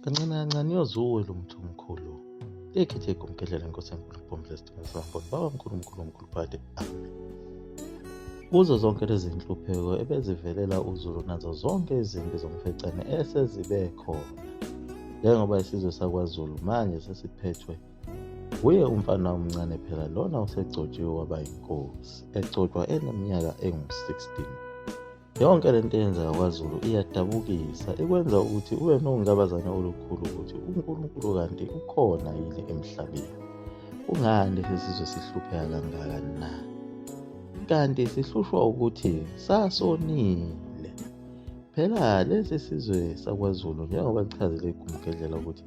kancane kancane uyozuwe lo mthi omkhulu ekhethe igumgedlela inkosi enkulu kubomdla isidingo sambona baba mkhulu mkhulu omkhulu phade amen kuzo zonke lezi nhlupheko ebezivelela uzulu nazo zonke izimpi zomfecane esezibe khona njengoba isizwe sakwazulu manje sesiphethwe wuye umfana omncane phela lona usegcotshiwe waba yinkosi egcotshwa eneminyaka engu-16 Yonke le nto eyenzeka kwaZulu iyadabukisa, ikwenza ukuthi ube nongabazane olukhulu ukuthi uNkulunkulu kanti ukhona yini emhlabeni. Kungani lesi sizwe sihlupheka kangaka na? Kanti sihlushwa ukuthi sasonile. Phela lesi sizwe sakwaZulu njengoba kuchazele iGumgedlela ukuthi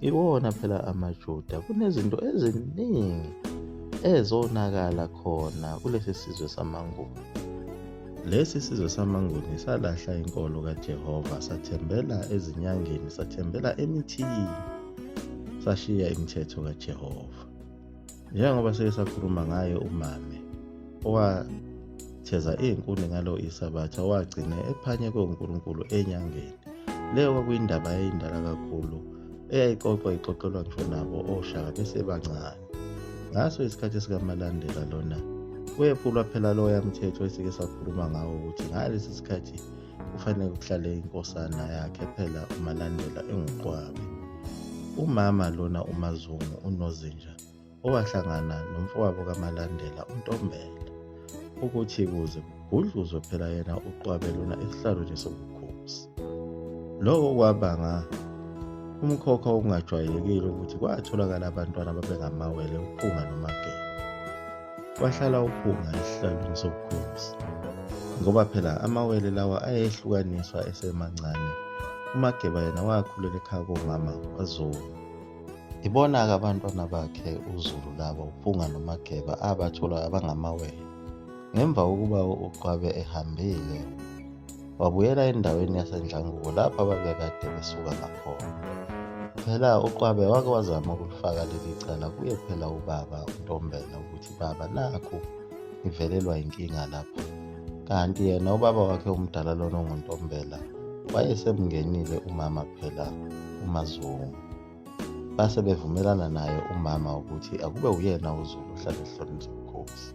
Iwona phela amaJuda kunezinto eziningi ezonakala khona kulesi sizwe samaNguni. Lesi sizwe samaNguni salahla inkolo kaJehova sathembela ezinyangeni, sathembela emithini, sashiya imithetho kaJehova. njengoba sike sakhuluma ngaye umame owatheza iy'nkuni ngalo isabatha wagcine ephanyekwe unkulunkulu enyangeni leyo kwakuyindaba yayindala kakhulu eyayixoxwa ixoxelwa ngisho nabo oshaka besebancane ngaso isikhathi sikaMalandela lona wephulwa phela loya mthetho esike sakhuluma ngawo ukuthi ngalesi sikhathi kufanele kuhlale inkosana yakhe phela umalandela enguqwabe umama lona umazungu unozinja owahlangana nomfowabo kamalandela untombela ukuthi kuze kugudluzwe phela yena uqwabe lona esihlalweni sobukhosi lokho kwabanga umkhokha okungajwayelekile ukuthi kwatholakala abantwana babengamawele uphunga nomageba Wahlala uphunga esihlalweni sobukhosi, ngoba phela amawele lawa ayehlukaniswa esemancane. UMageba yena wakhulela ekhaya komama kwaZulu. Ibona-ke abantwana bakhe uZulu laba uPhunga noMageba abatholwa abangamawele. Ngemva kokuba uQwabe ehambile, wabuyela endaweni yasendlanguko lapho ababekade besuka ngakhona phela uqwabe wake wazama ukulifaka leli cala kuye phela ubaba untombela ukuthi baba nakho ngivelelwa yinkinga lapha kanti yena ubaba wakhe omdala lona onguntombela wayesemngenile umama phela umazungu base bevumelana naye umama ukuthi akube uyena uZulu ohlale ehlonipha ubukhosi.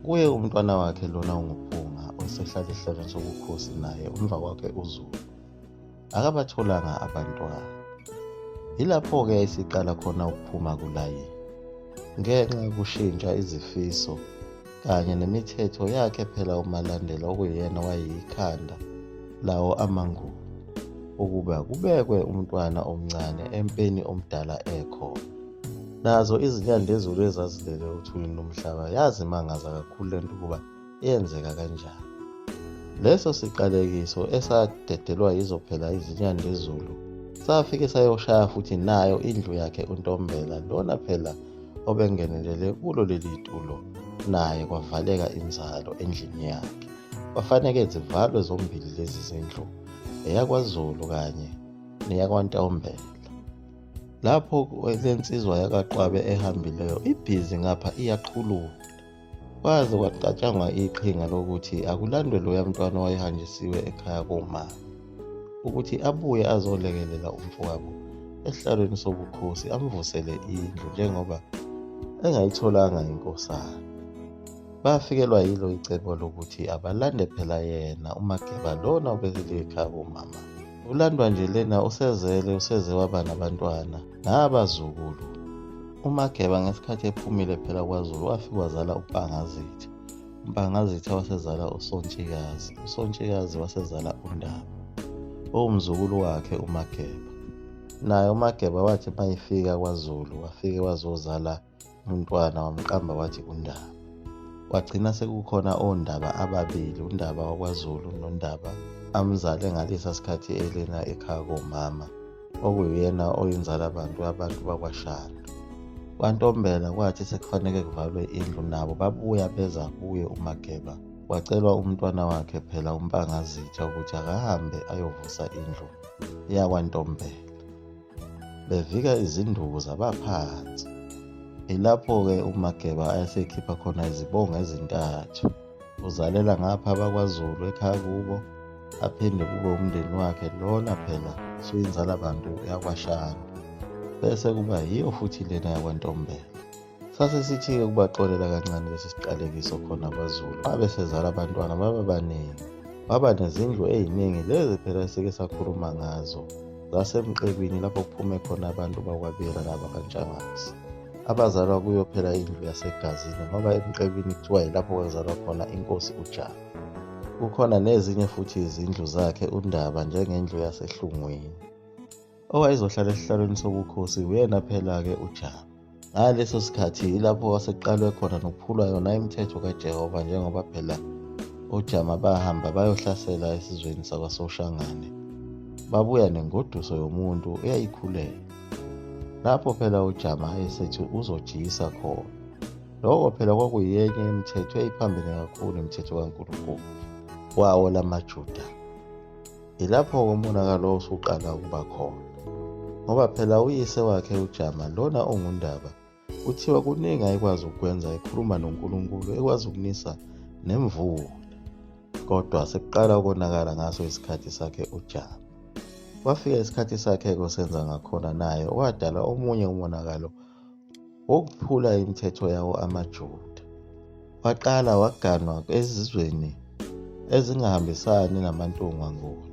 Kuye umntwana wakhe lona unguPhunga osehlale ehlonipha ubukhosi naye umva kwakhe uZulu. Akabatholanga abantwana. Yilapho-ke esiqala khona ukuphuma kulayini ngenxa yokushintsha izifiso kanye nemithetho yakhe phela uMalandela okuyena wayeyikhanda lawo amanguni ukuba kubekwe umntwana omncane empeni omdala ekhona nazo izinyandezulu ezazilele uthulini lomhlaba yazimangaza kakhulu lento ukuba yenzeka kanjani leso siqalekiso esadedelwa yizo phela izinyandezulu safike sayoshaya futhi nayo indlu yakhe untombela lona phela obengenelele kulo leli tulo naye kwavaleka inzalo endlini yakhe kwafaneke zivalwe zombili lezi zindlu eyakwazulu kanye neyakwantombela lapho le nsizwa yakaqwabe ehambileyo ibhizi ngapha iyaqhulula Kwaze kwacatshangwa iqhinga lokuthi akulandwe loya mntwana owayehanjisiwe ekhaya koma ukuthi abuye azolekelela umfowabo esihlalweni sobukhosi amvusele indlu njengoba engayitholanga inkosana. Bafikelwa yilo icebo lokuthi abalande phela yena uMageba lona obekele ekhaya komama. Ulandwa nje lena usezele useze waba nabantwana. Nabazukulu, uMageba ngesikhathi ephumile phela kwaZulu wafika wazala uMpangazitha. UMpangazitha wasezala uSontshikazi, uSontshikazi wasezala uNdaba, owumzukulu wakhe uMageba. Naye uMageba wathi uma efika kwaZulu wafike wazozala umntwana wamqamba wathi undaba kwagcina sekukhona ondaba ababili undaba wakwazulu nondaba amzale ngalesa sikhathi elena ekhaya komama okuyena oyinzala bantu abantu bakwashana kwantombela kwathi sekufanele kuvalwe indlu nabo babuya beza kuye umageba wacelwa umntwana wakhe phela umpangazitsha ukuthi akahambe ayovusa indlu yakwantombela bevika izinduku zabaphansi ilapho-ke umageba ayesekhipha khona izibongo ezintathu uzalela ngapha abakwazulu ekhaya kubo aphinde kube umndeni wakhe lona phela suyinzala bantu yakwashana bese kuba yiyo futhi lena yakwantombela Sase sithike ukubaxolela kancane lesi siqalekiso khona kwaZulu. Babe sezala abantwana baba baningi. Baba nezindlu eziningi lezi phela sike sakhuluma ngazo zasemqebini lapho kuphume khona abantu bakwabela nabakantshangase abazalwa kuyo phela indlu yasegazini ngoba emqebini kuthiwa yilapho kwazalwa khona inkosi ujaka kukhona nezinye futhi izindlu zakhe undaba njengendlu yasehlungwini owayezohlala esihlalweni sobukhosi uyena phela-ke uJama. Ngaleso sikhathi yilapho kwasekuqalwe khona nokuphulwa yona imithetho kaJehova njengoba phela oJama bahamba bayohlasela esizweni sakwaSoshangane. Babuya nengoduso yomuntu eyayikhulela. Lapho phela uJama esethi uzojiyisa khona. Lokho phela kwakuyenye imithetho eyiphambene kakhulu imithetho kaNkulunkulu wawo lamaJuda. Yilapho-ke umonakalo osuqala ukuba khona ngoba phela uyise wakhe uJama lona ongundaba kuthiwa kuningi ayekwazi ukukwenza ekhuluma noNkulunkulu ekwazi ukunisa nemvula kodwa sekuqala ukonakala ngaso isikhathi sakhe uJama kwafika isikhathi sakhe kosenza ngakhona naye wadala omunye umonakalo wokuphula imithetho yawo amaJuda. Waqala waganwa ezizweni ezingahambisani namaNtungwa Nguni.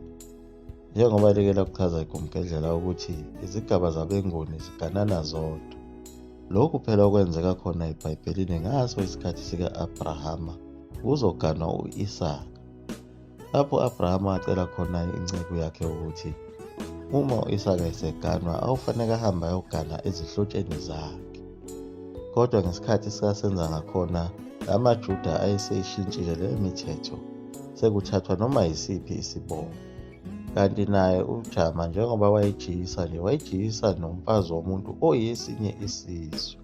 Njengoba like lakuchaza iGumgedlela ukuthi izigaba zabeNguni ziganana zodwa. Lokhu phela okwenzeka khona eBhayibhelini ngaso isikhathi sika-Abrahama kuzoganwa u-Isaka. lapho u-abrahama acela khona inceku yakhe ukuthi uma u-isaka eseganwa awufaneke ahambe ayogana ezihlotsheni zakhe kodwa ngesikhathi sikasenza ngakhona la majuda ayeseyishintshile leyo mithetho sekuthathwa noma yisiphi isibongo kanti naye ujama njengoba wayejiyisa nje wayejiyisa nomfazi womuntu oyesinye isizwe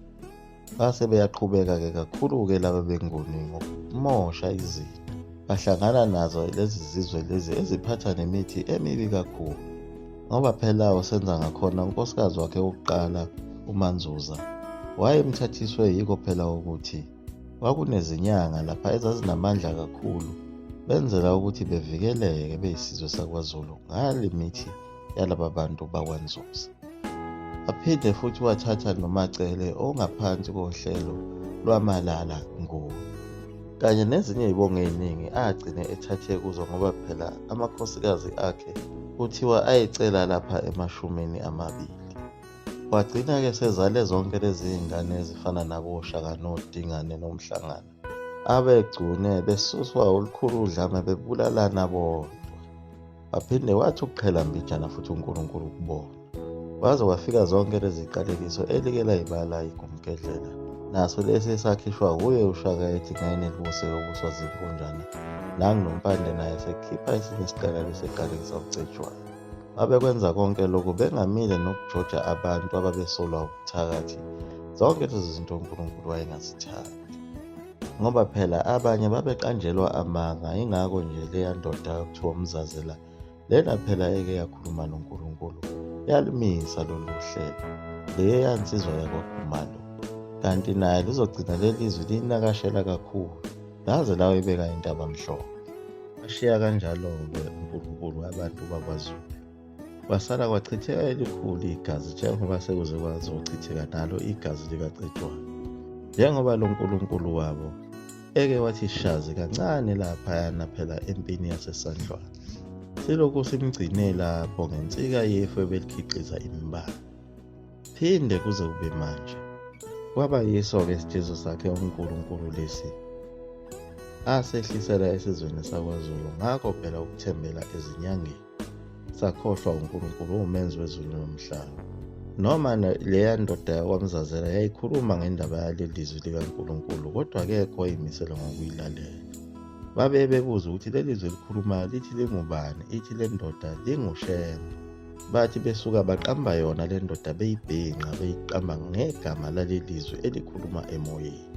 Base beyaqhubeka-ke kakhulu-ke laba benguni ngokumosha izinto bahlangana nazo lezi zizwe lezi eziphatha nemithi emibi kakhulu ngoba phela usenza ngakhona unkosikazi wakhe wokuqala umanzuza wayemthathiswe yiko phela ukuthi kwakunezinyanga lapha ezazinamandla kakhulu benzela ukuthi bevikeleke beyisizwe sakwazulu ngale mithi yalaba bantu bakwanzuza aphinde futhi wathatha nomacele ongaphansi kohlelo lwamalala nguwe kanye nezinye izibongo eziningi agcine ethathe kuzo ngoba phela amakhosikazi akhe kuthiwa ayecela lapha emashumini amabili wagcina-ke sezale zonke lezi ngane ezifana naboshaka nodingane nomhlangano abegcune besuswa olukhulu udlame bebulalana bodwa waphinde wathi ukuqhela mbijana futhi unkulunkulu kubona waze wafika zonke leziqalekiso elike layibala igumgedlela naso lesi esakhishwa wuye ushaka ethi ngayini elibuse yokuswa zinkunjana nangunompande naye sekhipha esinye isiqalelo seqalekisa ucetshwayo babekwenza konke lokhu bengamile nokujoja abantu ababesolwa ubuthakathi zonke lezi zinto unkulunkulu wayengazithandi ngoba phela abanye babeqanjelwa amanga ingakho nje leya ndoda kuthiwa umzazela lena phela eke yakhuluma noNkulunkulu yalumisa lolu hlelo leya nsizwa yakwakhumalo kanti naye lizogcina leli zwi linakashela kakhulu laze lawo ibeka intaba mhlophe ashiya kanjalo-ke unkulunkulu abantu bakwazulu kwasala kwachitheka elikhulu igazi njengoba sekuze kwazi ukuchitheka nalo igazi likacetshwayo njengoba lo nkulunkulu wabo eke wathi shazi kancane laphayana phela empini yasesandlwana silokhu simgcine lapho ngensika yefu ebelikhiqiza imbala phinde kuze kube manje kwaba yiso-ke isijezo sakhe unkulunkulu lesi asehlisela esizweni sakwazulu ngakho phela ukuthembela ezinyangeni sakhohlwa uNkulunkulu uwumenzi wezulu nomhlaba noma leya ndoda yakwamzazela yayikhuluma ngendaba yaleli lizwi likaNkulunkulu kodwa kekho wayimisela ngokuyilalela babe bebuza ukuthi leli zwi likhulumayo lithi lingubani ithi le ndoda lingushembe bathi besuka baqamba yona le ndoda beyibhinqa beyiqamba ngegama laleli zwi elikhuluma emoyeni